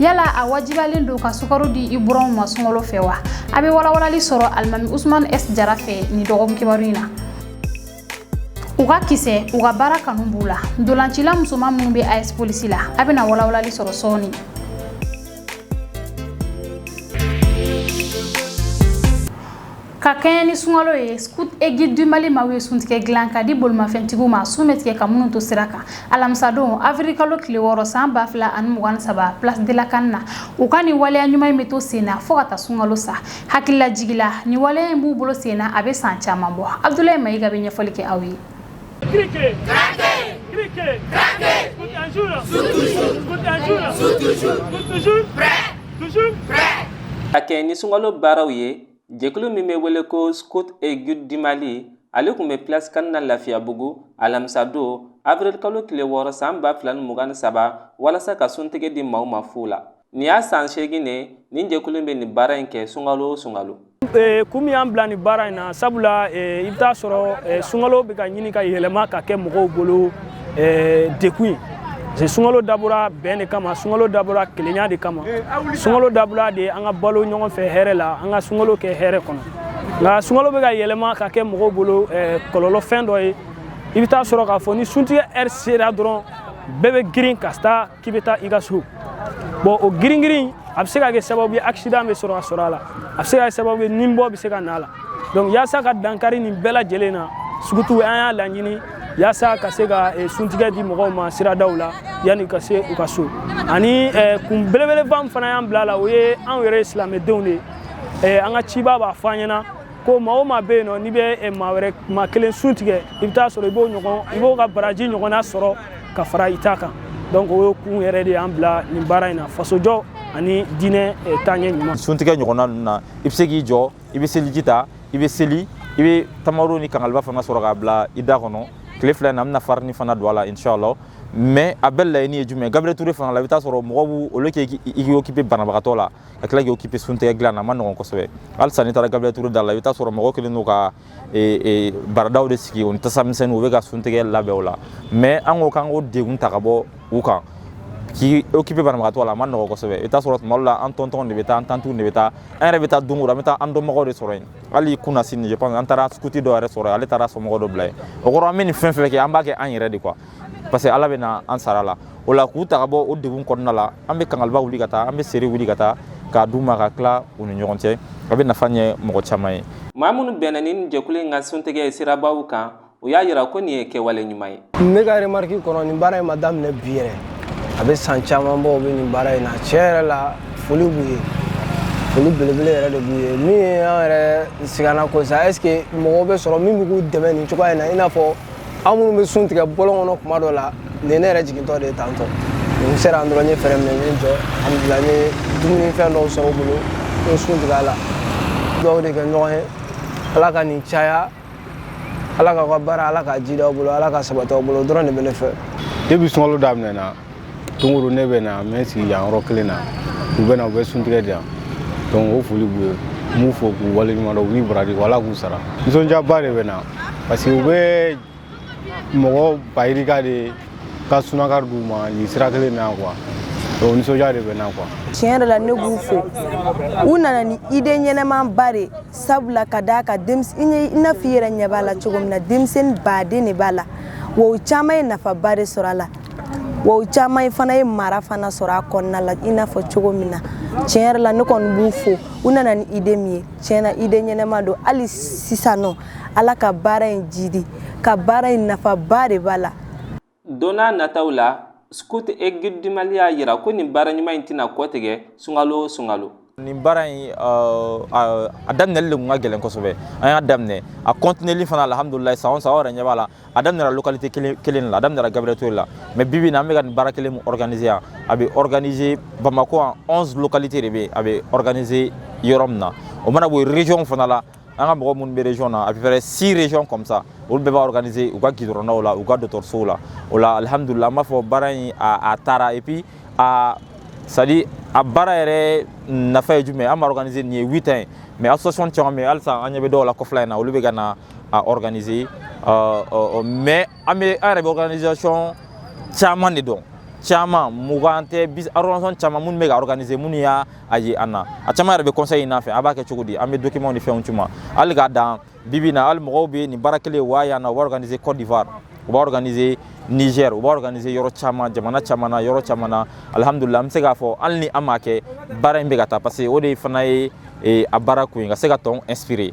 yala a wajibalen don ka sukaro di i buranw ma sunkalo fɛ wa a bɛ walawalali sɔrɔ alimami usman s jara fɛ nin dɔgɔkun kibaru in na u ka kisɛ u ka baara kanu b'u la ntolancila musoman minnu bɛ as polisi la a bɛna walawalali sɔrɔ sɔɔni Ka kɛɲɛ ni sunkalo ye scout et guide du Mali maaw ye suntigɛ dilan k'a di bolimafɛntigiw ma sun bɛ tigɛ ka minnu to sira kan alamisadon avril kalo tile wɔɔrɔ san 2023 place de la CAN na u ka nin waleya ɲuman in bɛ to sen na fo ka taa sunkalo sa hakililajigi la nin waleya in b'u bolo sen na a bɛ san caman bɔ Abdoulaye Mayiga bɛ ɲɛfɔli kɛ aw ye. Criquet, craquer, criquet, craquer, scout un jour, scout toujours, scout un jour, scout toujours, scout toujours, prêt, toujours, prêt. Ka kɛɲɛ ni sunkalo baaraw ye jɛkulu min bɛ wele ko scout et guide du mali ale tun bɛ place CAN na lafiyabugu alamisadon avril kalo tile wɔɔrɔ san ba fila ni mugan ni saba walasa ka suntigɛ di maaw ma fu la nin y'a san seegin de nin jɛkulu bɛ nin baara in kɛ sunkalo o sunkalo Eh, kun min y'an bila nin baara in na sabula eh, i bɛ taa sɔrɔ eh, sunkalo bɛ ka ɲini ka yɛlɛma ka kɛ mɔgɔw bolo eh, degun ye parce sunkalo dabɔra bɛn de kama sunkalo dabɔra kelenya de kama eh, sunkalo dabɔra de an ka balo ɲɔgɔn fɛ hɛrɛ la an ka sunkalo kɛ hɛrɛ kɔnɔ nka sunkalo bɛ ka yɛlɛma ka kɛ mɔgɔw bolo eh, kɔlɔlɔ fɛn dɔ ye i bɛ taa sɔrɔ k'a fɔ ni suntigɛ ɛri sera dɔrɔn bɛɛ bɛ girin ka sira ta k'i bɛ taa i ka so bon o giringirin a bɛ se ka kɛ sababu ye accident bɛ sɔrɔ ka sɔrɔ a la a bɛ se ka kɛ sababu ye ninbɔ bɛ se ka na a la donc yaasa ka dankari nin bɛɛ lajɛlen na scout an y'a laɲini yaasa ka se ka eh, suntigɛ di mɔgɔw ma siradaw la yanni ka se u ka so ani eh, kun belebeleba min fana y'an bila a la o ye anw yɛrɛ silamɛdenw de ye eh, an ka ciba b'a fɔ an ɲɛna ko maa o maa bɛ yen nɔ n'i bɛ eh, maa wɛrɛ maa kelen sun tigɛ i bɛ taa sɔrɔ i b'o ɲɔgɔn i b'o ka baraji ɲɔgɔnna sɔrɔ ka fara i ta kan donc o kun yɛrɛ de y'an bila nin baara in na fasojɔ ani diinɛ eh, taaɲɛ ɲuman suntigɛ ɲɔgɔnna ninnu na i bɛ se k'i jɔ i bɛ seliji ta i bɛ seli i bɛ tamaro ni kangaliba fana sɔrɔ k'a bila i da kɔnɔ tile fila in na an bɛna farini fana don a la inshallah mais a bɛɛ laɲini ye jumɛn ye gabriel ture fana la i bɛ taa sɔrɔ mɔgɔ bɛ wuli k'i occuper banabagatɔ la ka tila k'i occuper suntigɛ dilan na a man nɔgɔn kosɛbɛ halisa n'i taara gabriel ture da la i bɛ taa sɔrɔ mɔgɔ kɛlen don ka baradaw de sigi o ni tasa misɛnnin u bɛ ka suntigɛ labɛn o la mais an ko k'an k'o degun ta ka bɔ u kan k'i occuper banabagatɔ la a man nɔgɔ kosɛbɛ i bɛ taa sɔrɔ tuma dɔ la an tɔntɔn de bɛ taa an tantiw de bɛ taa an yɛrɛ bɛ taa don o don an bɛ taa an dɔnbagaw de sɔrɔ yen hali kunasini je pense an taara scout dɔ yɛrɛ sɔrɔ ale taara somɔgɔ dɔ bila yen o kɔrɔ an bɛ nin fɛn fɛn kɛ an b'a kɛ an yɛrɛ de quoi parce que ala bɛ na an sara la o la k'u ta ka bɔ o degun kɔnɔna la an bɛ kangaliba wuli ka taa an bɛ seri wuli ka taa k'a d'u ma k'a tila u ni ɲɔgɔn cɛ a bɛ nafa ɲɛ mɔgɔ caman ye maa minnu bɛnna ni jɛkulu in ka suntigɛ ye sirabaw kan u y'a yira ko nin ye kɛwale ɲuman ye ne ka remarque kɔnɔ nin baara in ma daminɛ bi yɛrɛ a bɛ san caman bɔ u bɛ nin baara in na tiɲɛ yɛrɛ la foli b'u ye foli belebele yɛrɛ de b'u ye min ye an yɛrɛ siganna ko sa est ce que mɔgɔw bɛ sɔrɔ min bɛ k'u dɛmɛ nin cogoya in na i n'a fɔ an minnu bɛ sun tigɛ bɔlɔn kɔnɔ kuma dɔ la nin ne yɛrɛ jigintɔ de taatɔ n sera yan dɔrɔn n ye frein minɛ n ye n jɔ alhamdulilayi n ye dumuni fɛn dɔw sɔrɔ u bolo n ye sun tigɛ a la dugawu de kɛ ɲɔgɔn ye ala ka nin caya ala k'aw ka baara ala k'a jidi aw bolo ala k'a sabati aw bolo o dɔrɔn de bɛ ne fɛ depuis sunkalo daminɛna don go don ne bɛ na n bɛ sigi yan yɔrɔ kelen na u bɛ u bɛ sun tigɛ de yan o foli b'u ye n b'u fo k'u waleɲumandɔn u ni baraji ala k'u sara nisɔndiyaba de bɛ n na parce que u bɛ mɔgɔ ba yirika de ka sunakari d'u ma nin sira kelen na quoi nisɔndiya de bɛ n na quoi tiɲɛ yɛrɛ la ne b'u fo u nana ni idée ɲɛnɛma ba de sabula ka d'a kan i n'a fɔ i yɛrɛ ɲɛ b'a la cogo min na denmisɛnnin baden de b'a la o caman ye nafa ba de sɔrɔ a la wa u caman fana ye mara fana sɔrɔ a kɔnɔna la i n'a fɔ cogo min na tiɲɛ yɛrɛ la ne kɔni b'u fo u nana ni idée min ye tiɲɛ na idée ɲɛnɛma don hali sisan nɔ ala ka baara in jidi ka baara in nafaba de b'a la don nataw la scouts et guides du mali y'a yira ko nin baara ɲuman in tɛna kɔtigɛ sunkalo o sunkalo nin baara in a daminɛli de kun ka gɛlɛn kosɛbɛ an y'a daminɛ a continueli fana alhamdulilayi san o san aw yɛrɛ ɲɛ b'a la a daminɛra localité kelen la a daminɛra gabriel touré la mais bibi na an bɛ ka nin baara kelen min organiser yan a bɛ organiser bamako yan 11 localité de bɛ yen a bɛ organiser yɔrɔ min na o mana bɔ yen région fana la an ka mɔgɔ minnu bɛ région na à peu près six régions comme ça olu bɛɛ b'a organiser u ka gidɔrɔndaw la u ka dɔgɔtɔrɔsow la o la alhamdulilayi an b'a fɔ baara in a taara et puis a c'est à dire a baara yɛrɛ nafa ye jumɛn ye an b'a organiser nin ye huit ans ye mais association caman bɛ yen halisa an ɲɛ bɛ dɔw la kɔfɛla in na olu bɛ ka na a organiser mais an yɛrɛ bɛ organisation caman de dɔn caman mugan tɛ organisation caman minnu bɛ k'a organiser minnu y'a ye an na a caman yɛrɛ bɛ conseil ɲini an fɛ aw b'a kɛ cogo di an bɛ documents ni fɛnw ci u ma hali k'a dan bibi na hali mɔgɔw bɛ nin baara kelen wa yan na u b'a organiser Côte d'Ivoire u b'a organiser Niger u b'a organiser yɔrɔ caman jamana caman na yɔrɔ caman na alhamdulilayi an bɛ se k'a fɔ hali ni an m'a kɛ baara in bɛ ka taa parce que o de fana ye a baara kun ye ka se ka tɔn inspirer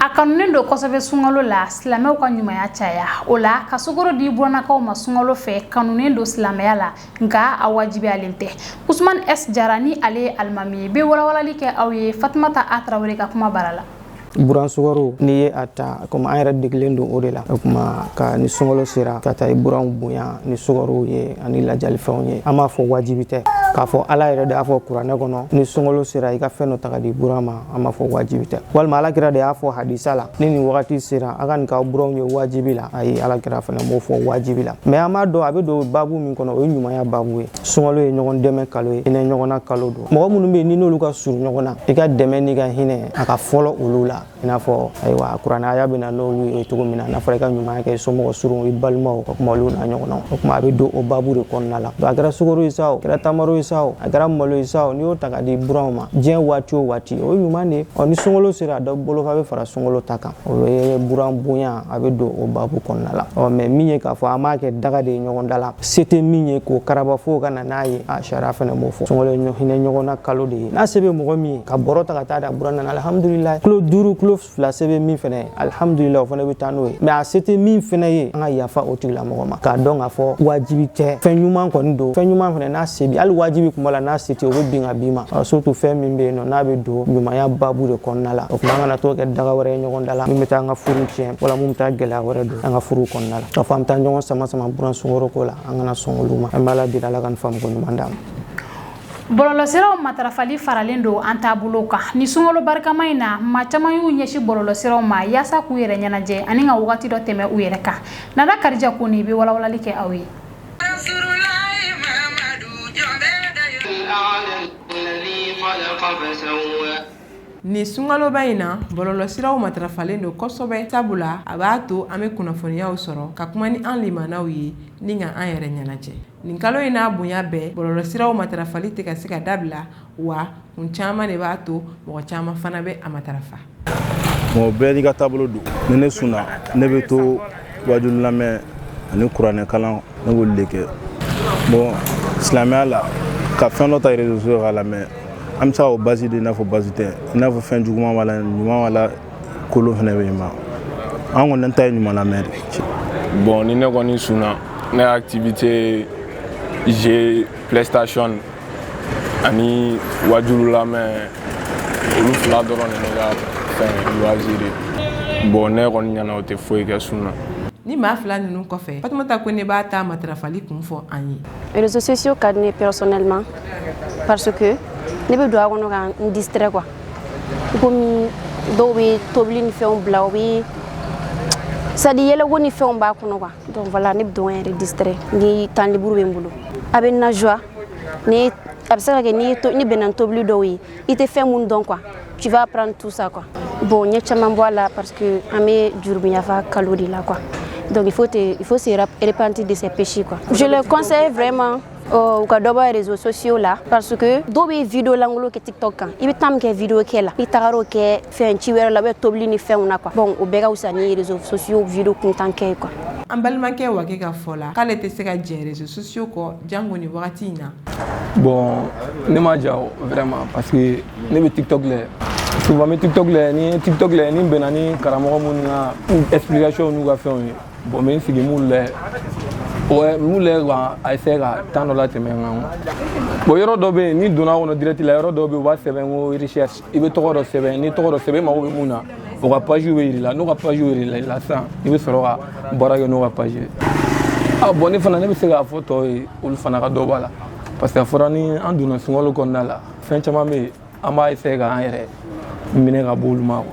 a kanunen don kosɛbɛ sunkalo la silamɛw ka ɲumanya caya o la ka sukoro di burannakaw ma sunkalo fɛ kanunen don silamɛya la nka a wajibiyalen tɛ usman s jara ni ale ye alimami ye bɛ walawalali kɛ aw ye fatumata a tarawele ka kuma bara la buran sukaro n'i ye a ta komi an yɛrɛ degelen don o de la o kuma ka ni sunkalo sera ka taa i buranw bonya ni sukarow ye ani lajalifɛnw ye an b'a fɔ wajibi tɛ k'a fɔ ala yɛrɛ de y'a fɔ kuranɛ kɔnɔ ni sunkalo sera i ka fɛn dɔ ta ka di buran ma an b'a fɔ wajibi tɛ walima alakira de y'a fɔ hadisa la ni nin wagati sera a ka nin k'aw buranw ye wajibi la ayi alakira fana m'o fɔ wajibi la mɛ an b'a dɔn a bɛ don babu min kɔnɔ o ye ɲumanya babu ye sunkalo ye ɲɔgɔn dɛmɛ kalo ye hinɛ ɲɔgɔnna kalo don mɔgɔ minnu bɛ yen n'i n'olu ka surun ɲɔgɔn na i ka dɛmɛ n'i ka hinɛ a ka fɔlɔ olu la i n'a fɔ ayiwa kuranɛ aya bɛ na n'olu ye cogo min na n'a fɔra i ka ɲumanya kɛ i somɔgɔ surun i balimaw o tuma olu n'a ɲɔgɔnnaw o tuma a bɛ don o babu de kɔnɔna la a kɛra sukaro ye sa o a kɛra tamaro ye sa o a kɛra malo ye sa o n'i y'o ta ka di buranw ma diɲɛ waati o waati o ye ɲuman de ye ɔ ni sunkalo sera dɔ bolofa bɛ fara sunkalo ta kan o ye buran bonya a bɛ don o babu kɔnɔna la ɔ mɛ min ye k'a fɔ an b'a kɛ daga de ye ɲɔgɔn da la se tɛ min ye k'o karaba fo ka na n'a ye a sariya fana m'o fɔ sunkalo ye hinɛ ɲɔgɔn na kalo de ye n'a se bɛ mɔgɔ min ye ka bɔrɔ ta ka taa d'a buran na alihamudulilayi kilo duuru kilo fila se bɛ min fana ye alihamudulilayi o fana bɛ taa n'o ye mɛ a se tɛ min fana ye an ka yafa o tigilamɔgɔ ma k'a dɔn k'a fɔ wajibi tɛ fɛn ɲuman kɔni don fɛn ɲuman fana n'a se b'i hali wajibi kuma la n'a se tɛ o bɛ bin ka b'i ma surtout fɛn min bɛ yen nɔ n'a bɛ don ɲumanya babu de kɔnɔna la o tuma an kana to kɛ daga wɛrɛ ye ɲɔgɔn da la min bɛ taa an ka furu tiɲɛ wala min bɛ taa gɛlɛya wɛrɛ don an ka furu kɔnɔna la k'a fɔ an bɛ taa ɲɔgɔn sama sama buran sukaro ko la an kana sɔn olu ma an b'ala deli ala ka nin faamuko ɲuman d'an ma bɔlɔlɔsiraw matarafali faralen don an taabolo kan ni sunkalo barikama in na maa caman y'u ɲɛsin bɔlɔlɔsiraw ma yaasa k'u yɛrɛ ɲɛnajɛ ani ka wagati dɔ tɛmɛ u yɛrɛ kan nana karija koni bɛ walawalali kɛ aw ye Nin sunkaloba in na bɔlɔlɔsiraw matarafalen don kosɛbɛ sabula a b'a to an bɛ kunnafoniyaw sɔrɔ ka kuma ni an limanaw ye ni ka an yɛrɛ ɲɛnajɛ nin kalo in n'a bonya bɛɛ bɔlɔlɔsiraw matarafali tɛ ka se ka dabila wa kun caman de b'a to mɔgɔ caman fana bɛ a matarafa mɔgɔ bɛɛ n'i ka taabolo don ni ne sunna ne bɛ to wajulu lamɛn ani kuranɛ kalan ne b'olu de kɛ bon silamɛya la ka fɛn dɔ ta réseaux sociaux k'a lamɛn an bɛ se ka o basi de i n'a fɔ basi tɛ i n'a fɔ fɛn juguman b'a la ɲuman b'a la kolon fɛnɛ bɛ yen mɛ an kɔni an ta ye ɲuman lamɛn de bon ni ne kɔni sunna ne activité jeu playstation ani wajulu lamɛn olu fila dɔrɔn de ne ka fɛn loisir ye bon ne kɔni ɲɛna o tɛ foyi kɛ sun na ni maa fila ninnu kɔfɛ fatumata kone b'a ta matarafali kun fɔ an ye réseaux sociaux ka di ne personnellement parce que ne bɛ don a kɔnɔ ka n distrait quoi komi dɔw bɛ tobili ni fɛnw bila o bɛ c'est à dire yɛlɛko ni fɛnw b'a kɔnɔ quoi donc voilà ne bɛ don ka n yɛrɛ distraire ni temps libre bɛ n bolo a bɛ n na joie ni a bɛ se ka kɛ ni to ni bɛnna tobili dɔw ye i tɛ fɛn minnu dɔn quoi tu vas apprendre tout ça quoi bon n ye caman bɔ a la parce que an bɛ jurubiyafa kalo de la quoi donc il faut te il faut se repentir de ses péchés quoi je le conseille vraiment u ka dɔ bɔ réseaux sociaux la parce que dɔw bɛ video langolo kɛ tiktok kan i bɛ temps min kɛ video kɛ la i tagar'o kɛ fɛn ci wɛrɛ la bɛ tobili ni fɛnw na quoi bon o bɛɛ ka fisa ni réseaux sociaux video kuntan kɛ quoi an balimakɛ Wagɛ ka fɔ la k'ale tɛ se ka jɛn réseaux sociaux kɔ jango ni wagati in na bon ne ma ja o vraiment parce que ne bɛ tiktok lɛ souvent bɛ tiktok lɛ ni tiktok lɛ ni bɛnna ni karamɔgɔ minnu ka explication n'u ka fɛnw ye bon n bɛ n sigi m'u lɛ ouais m'u lɛ k'a essayer ka temps dɔ latɛmɛ n kan bon yɔrɔ dɔ bɛ yen n'i donna kɔnɔ direct la yɔrɔ dɔ bɛ yen u b'a sɛbɛn ko recherche i bɛ tɔgɔ dɔ sɛbɛn n'i tɔgɔ dɔ sɛbɛn i mago bɛ mun na o ka page bɛ yir'i la n'o ka page yirala i la sisan i bɛ sɔrɔ ka baara kɛ n'o ka page ye bon ne fana ne bɛ se k'a fɔ tɔw ye olu fana ka dɔ b'a la parce que a fɔra ni an donna sunkalo kɔnɔna la fɛn caman bɛ yen an b'a essayer k'an yɛrɛ minɛ ka bɔ olu ma quoi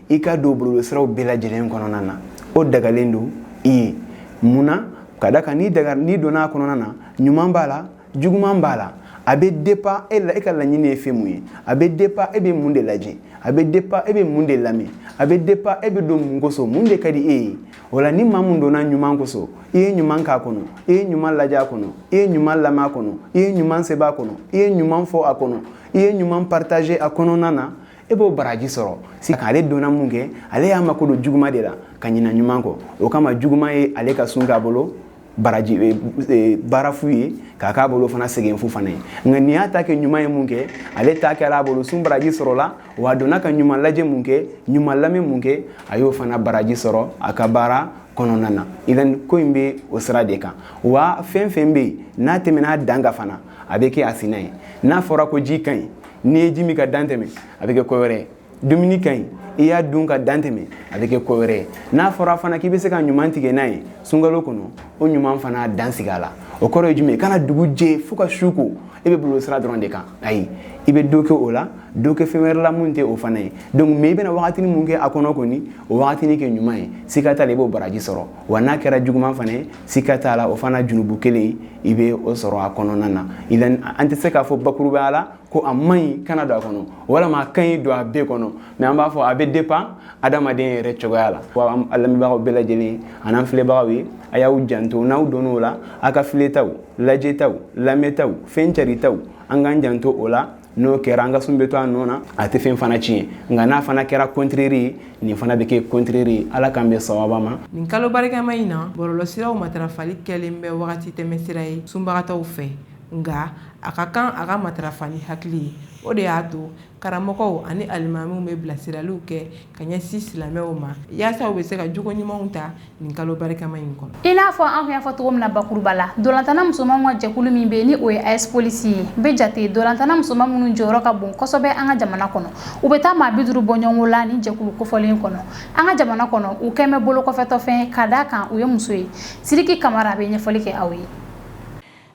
i ka don bɔlɔlɔsiraw bɛɛ lajɛlen kɔnɔna na o dagalen don i ye mun na ka da kan n'i daga n'i donna a kɔnɔna na ɲuman b'a la juguman b'a la a bɛ dépend e la e ka laɲini ye fɛn mun ye a bɛ dépend e bɛ mun de lajɛ a bɛ dépend e bɛ mun de lamɛn a bɛ dépend e bɛ don mun kosɔn mun de ka di e ye o la ni maa mun donna ɲuman kosɔn i ye ɲuman k'a kɔnɔ i ye ɲuman lajɛ a kɔnɔ i ye ɲuman lamɛn a kɔnɔ i ye ɲuman sɛbɛn a kɔnɔ i ye ɲuman fɔ a kɔnɔ i ye ɲuman partager a kɔnɔna na e b'o baraji sɔrɔ sisan ale donna mun kɛ ale y'a mako don juguman de la ka ɲina ɲuman kɔ o kama juguman ye ale ka sun k'a bolo baraji e, e, baara fu ye k'a k'a bolo fana sɛgɛn fu fana ye nka nin y'a ta kɛ ɲuman ye mun kɛ ale ta kɛra a bolo sun baraji sɔrɔla wa a donna ka ɲuman lajɛ mun kɛ ɲuman lamɛn mun kɛ a y'o fana baraji sɔrɔ a ka baara kɔnɔna na idan ko in bɛ o sira de kan wa fɛn fɛn bɛ yen n'a tɛmɛna a dan kan fana a bɛ kɛ a sina ye n'a fɔra ko ji ka ɲi n'i ye ji min ka dan tɛmɛ a bɛ kɛ ko wɛrɛ ye dumuni ka ɲi i y'a dun ka dan tɛmɛ a bɛ kɛ ko wɛrɛ ye n'a fɔra fana k'i bɛ se ka ɲuman tigɛ n'a ye sunkalo kɔnɔ o ɲuman fana dan sigi a la o kɔrɔ ye jumɛn ye kana dugu jɛ fo ka su ko e bɛ bɔlɔlɔsira dɔrɔn de kan ayi i bɛ dɔ kɛ o la dɔ kɛ fɛn wɛrɛ la mun tɛ o fana ye donc mais i bɛna wagatini mun kɛ a kɔnɔ kɔni o wagatini kɛ ɲuman ye siga t'a la i b'o baraji sɔrɔ wa n'a kɛra juguman fana ye sika t'a la o fana junubu kelen i bɛ o sɔrɔ a kɔnɔna na idan an tɛ se k'a fɔ bakurubaya la ko a man ɲi kana don a kɔnɔ walama a ka ɲi don a bɛɛ kɔnɔ mais an b'a fɔ a bɛ dépend adamaden yɛrɛ cogoya la wa an lamɛnbagaw bɛɛ lajɛlen an'an filɛbagaw ye a y'aw janto n'aw donn'o la a ka filɛtaw lajɛtaw lamɛntaw fɛn caritaw an k'an janto o la n'o kɛra an ka sun bɛ to a nɔ na a tɛ fɛn fana tiɲɛ nka n'a fana kɛra contraire ye nin fana bɛ kɛ contraire ye ala k'an bɛn sawaba ma nin kalo barikama in na bɔlɔlɔsiraw matarafali kɛlen bɛ wagati tɛmɛsira ye sunbagatɔw fɛ nka a ka kan a ka matarafa ni hakili ye o de y'a to karamɔgɔw ani alimamiw bɛ bilasiraliw kɛ ka ɲɛsin silamɛw ma yaasa u bɛ se ka jogo ɲumanw ta nin kalo barikama in kɔnɔ i n'a fɔ an y'a fɔ cogo min na bakuruba la ntolatanna musomanw ka jɛkulu min bɛ yen ni o ye as polisi ye bɛ jate ntolatanna musoman minnu jɔyɔrɔ ka bon kosɛbɛ an ka jamana kɔnɔ u bɛ taa maa bi duuru bɔ ɲɔgɔn la nin jɛkulu kofɔlen kɔnɔ an ka jamana kɔnɔ u kɛlen bɛ bolo kɔfɛtɔfɛn ka d'a kan u ye muso ye siriki kamara a bɛ ɲɛfɔli kɛ aw ye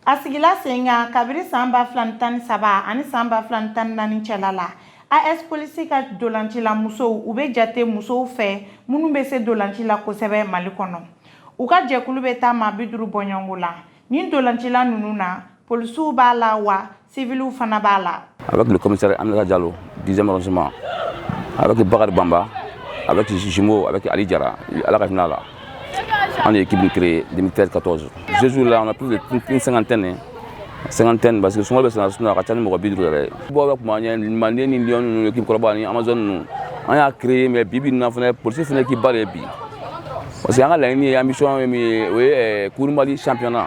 a sigila sen kan kabiri san ba fila ni tan ni saba ani san ba fila ni tan ni naani cɛla la as polisi ka ntolacila musow u bɛ jate musow fɛ minnu bɛ se ntolaci la kosɛbɛ mali kɔnɔ u ka jɛkulu bɛ taa maa bi duuru bɔ ɲɔgɔn la nin ntolacila ninnu na polisiw b'a la wa civiliw fana b'a la. Avec le commissaire Aminata Diallo, 10e arrondissement, avec Bakari Bamba, avec Jimo, avec Ali Diarra, Ala ka hinɛ la. An de ye équipe in créer 2013-14. Ce jour-là, on a plus d'une cinquantaine. Hein. Cinquantaine parce que souvent bɛ sɛnɛ sunna a ka ca ni mɔgɔ bi duuru yɛrɛ ye. Bon bɛ kuma ɲɛ manden ni Lionnes ninnu équipe kɔrɔba ni Amazones ninnu an y'a créé mais bi bi in na fana polisi fana équipe ba de ye bi. Parce que an ka laɲini ye ambition ye min ye o ye Coupe du Mali championnat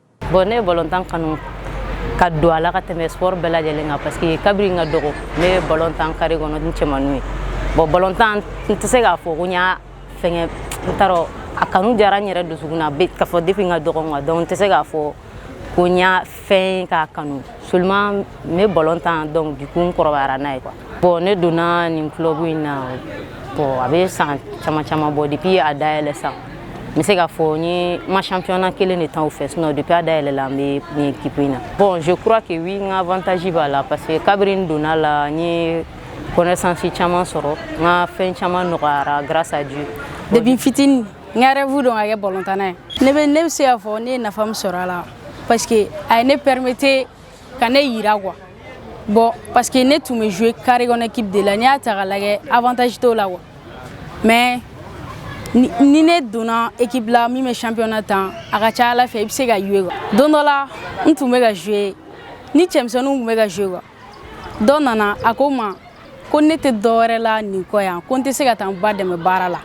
bon ne ye balontan kanu ka don a la ka tɛmɛ sport bɛɛ lajɛlen kan parce que kabiri n ka dɔgɔ ne bɛ balontan carré kɔnɔ ni cɛmannu ye bon balontan n tɛ se k'a fɔ ko n y'a fɛngɛ n t'a dɔn a kanu diyara n yɛrɛ dusukun na k'a fɔ depuis n ka dɔgɔ quoi donc n tɛ se k'a fɔ ko n y'a fɛn k'a kanu seulement n bɛ balontan donc du coup n kɔrɔbayara n'a ye quoi bon ne donna nin club in na bon a bɛ san caman caman bɔ depuis a dayɛlɛ san n bɛ se k'a fɔ n ye n ma championnat kelen de tan o fɛ sinon depuis a dayɛlɛla n bɛ nin équipe in na bon je crois que oui n ka avantage b'a la parce que kabiri n donna la n ye connaissance caman sɔrɔ n ka fɛn caman nɔgɔyara grâce à Dieu depuis n fitini n ka rêve don ka kɛ balontanna ye ne bɛ ne bɛ se k'a fɔ ne ye nafa min sɔrɔ a la parce que a ye ne permettre ka ne yira quoi bon parce que ne tun bɛ jouer carré kɔnɔ équipe de la n'i y'a ta k'a lajɛ avantage t'o la quoi mais ni, ni ne donna équipe la min bɛ championnat tan a ka ca ala fɛ i bɛ se ka jouer quoi don dɔ la n tun bɛ ka jouer ni cɛmisɛnninw tun bɛ ka jouer quoi dɔ nana a ko n ma ko ne tɛ dɔ wɛrɛ la nin kɔ yan ko n tɛ se ka taa n ba dɛmɛ baara la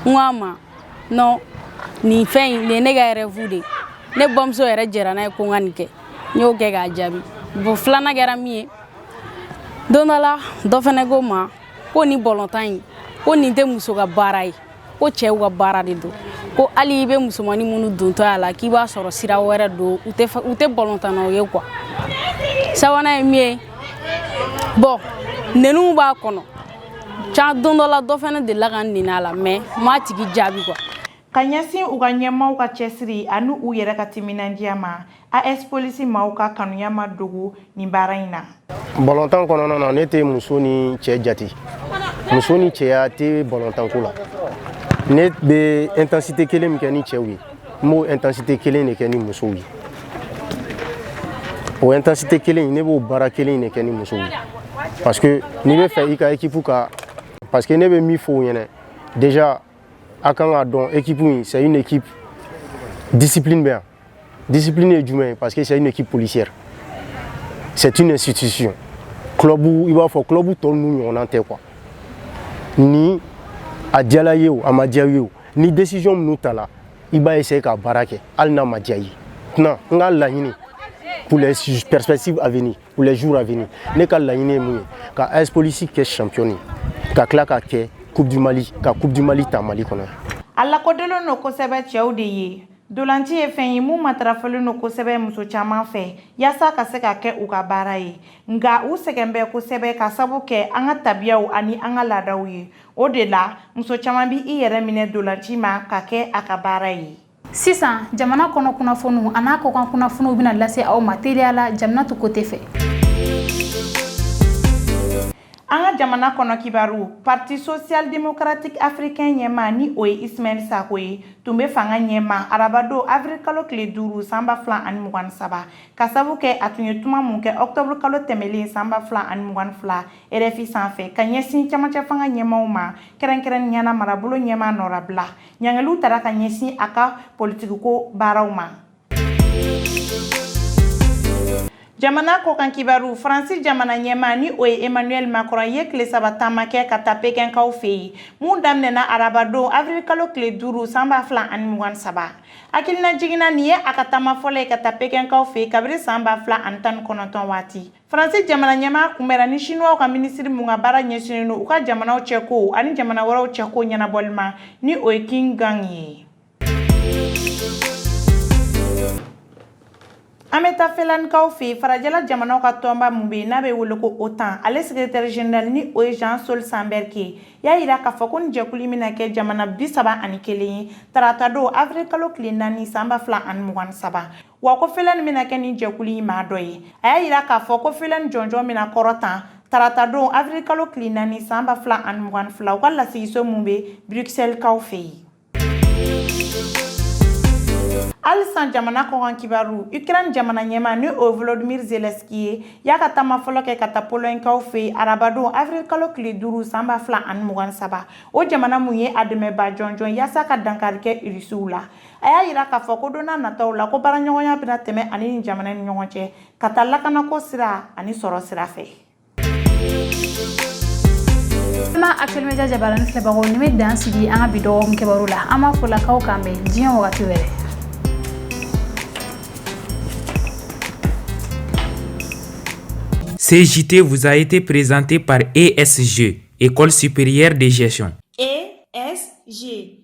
n ko a ma non nin fɛn in nin ye ne ka rêve de ye ne bamuso yɛrɛ jɛra n'a ye ko n ka nin kɛ n y'o kɛ k'a jaabi bon filanan kɛra min ye don dɔ la dɔ fana ko n ma ko nin bɔlɔntan in ko nin tɛ muso ka baara ye ko cɛw ka baara de don ko hali i bɛ musomannin minnu dontɔ a la k'i b'a sɔrɔ sira wɛrɛ don u tɛ u tɛ bɔlɔntannaw ye quoi sabanan ye min ye bon nɛniw b'a kɔnɔ can don dɔ la dɔ fana delila ka n nɛni a la mais n m'a tigi jaabi quoi ka ɲɛsin u ka ɲɛmaaw ka cɛsiri ani u yɛrɛ ka timinandiya ma AS Police maaw ka kanuya ma dogo nin baara in na bɔlɔntan kɔnɔna na ne tɛ muso ni cɛ jate muso ni cɛya tɛ bɔlɔntanko la ne bɛ intensité kelen min kɛ ni cɛw ye n b'o intensité kelen de kɛ ni musow ye o intensité kelen ne b'o baara kelen de kɛ ni musow ye parce que n'i bɛ fɛ i ka équipe ka parce que ne bɛ min fɔ u ɲɛna déjà a kan k'a dɔn équipe in c'est une équipe discipline bɛ yan discipline ye jumɛn ye parce que c'est une équipe policière c'est une institution club i b'a fɔ club tɔ ninnu ɲɔgɔnna tɛ quoi ni a diyala i ye o a ma diya i ye o ni décision minnu tala i b'a essayer ka baara kɛ hali n'a ma diya i ye maintenant n ka laɲini pour les perspectives à venir pour les jours à venir ne ka laɲini ye mun ye ka AS Police kɛ championne ye ka tila ka kɛ coupe du Mali ka coupe du Mali ta Mali kɔnɔ a lakodɔnlen don kosɛbɛ cɛw de ye ntolaci ye fɛn ye mun matarafalen don kosɛbɛ muso caman fɛ yaasa ka se ka kɛ u ka baara ye nka u sɛgɛn bɛ kosɛbɛ ka sabu kɛ an ka tabiyaw ani an ka laadaw ye o de la muso caman bɛ i yɛrɛ minɛ ntolaci ma ka kɛ a ka baara ye sisan jamana kɔnɔ kunnafoniw a n'a kɔkan kunnafoniw bɛna lase aw ma teliya la jaminatu kote fɛ an ka jamana kɔnɔ kibaru parti social démocratique africain ɲɛmaa ni o ye ismaël sacko ye tun bɛ fanga ɲɛma arabadon avril kalo tile duuru san ba fila ani mugan saba ka sabu kɛ a tun ye kuma mun kɛ octobre kalo tɛmɛlen san ba fila ani mugan fila RFI sanfɛ ka ɲɛsin camancɛ fanga ɲɛmaaw ma kɛrɛnkɛrɛnnenya la marabolo ɲɛmaa nɔrabila ɲangiliw tara ka ɲɛsin a ka politikiko baaraw ma jamana kɔkan kibaru faransi jamana ɲɛmaa ni o ye emmanuel macron ye tile saba taama kɛ ka taa pekɛnkaw fɛ yen mun daminɛna arabadon avril kalo tile duuru san ba fila ani mugan saba hakilinajigin na nin ye a ka taama fɔlɔ ye ka taa pekɛnkaw fɛ yen kabiri san ba fila ani tan ni kɔnɔntɔn waati Faransi jamana ɲɛmaa kunbɛra ni Siniwaw ka minisiri mun ka baara ɲɛsinnen don u ka jamanaw cɛko ani jamana wɛrɛw cɛko ɲɛnabɔli ma ni o ye Qin Gang ye. An bɛ taa Finlandekaw fɛ yen, farajɛla jamanaw ka tɔnba mun bɛ yen n'a bɛ wele ko OTAN, ale sekretɛri jenerali ni o ye Jens Stoltenberg ye, y'a yira k'a fɔ ko nin jɛkulu in bɛna kɛ jamana bi saba ani kelen ye taratadon avril kalo tile naani san ba fila ani mugan ni saba. wa ko Finlande bɛna kɛ nin jɛkulu in maa dɔ ye a y'a yira k'a fɔ ko Finlande jɔnjɔn bɛna kɔrɔta tarata don avril kalo tile naani san ba fila ani mugan ni fila u ka lasigiso min bɛ Bruxelleskaw fɛ yen halisa jamana kɔkan kibaru ukraine jamana ɲɛma ni o volodimir zelenski ye y'a ka taama fɔlɔ kɛ ka taa polɔɲikaw fɛ arabadon avril kalo tile duuru san ba fila ani mugan saba o jamana mun ye a dɛmɛbaa jɔnjɔn yaasa ka dankari kɛ irisiw la a y'a yira k'a fɔ ko don n'a nataw la ko baaraɲɔgɔnya bɛna tɛmɛ a ni nin jamana ni ɲɔgɔn cɛ ka taa lakanako sira ani sɔrɔ sira fɛ ma Actuel Média jabarani filɛbagaw nin bɛ dan sigi an ka bi dɔgɔkun kibaru la an b'a fɔ lakaw k'an bɛn diɲɛ wagati wɛrɛ Ce JT vous a été présenté par ESG, École supérieure de gestion. ESG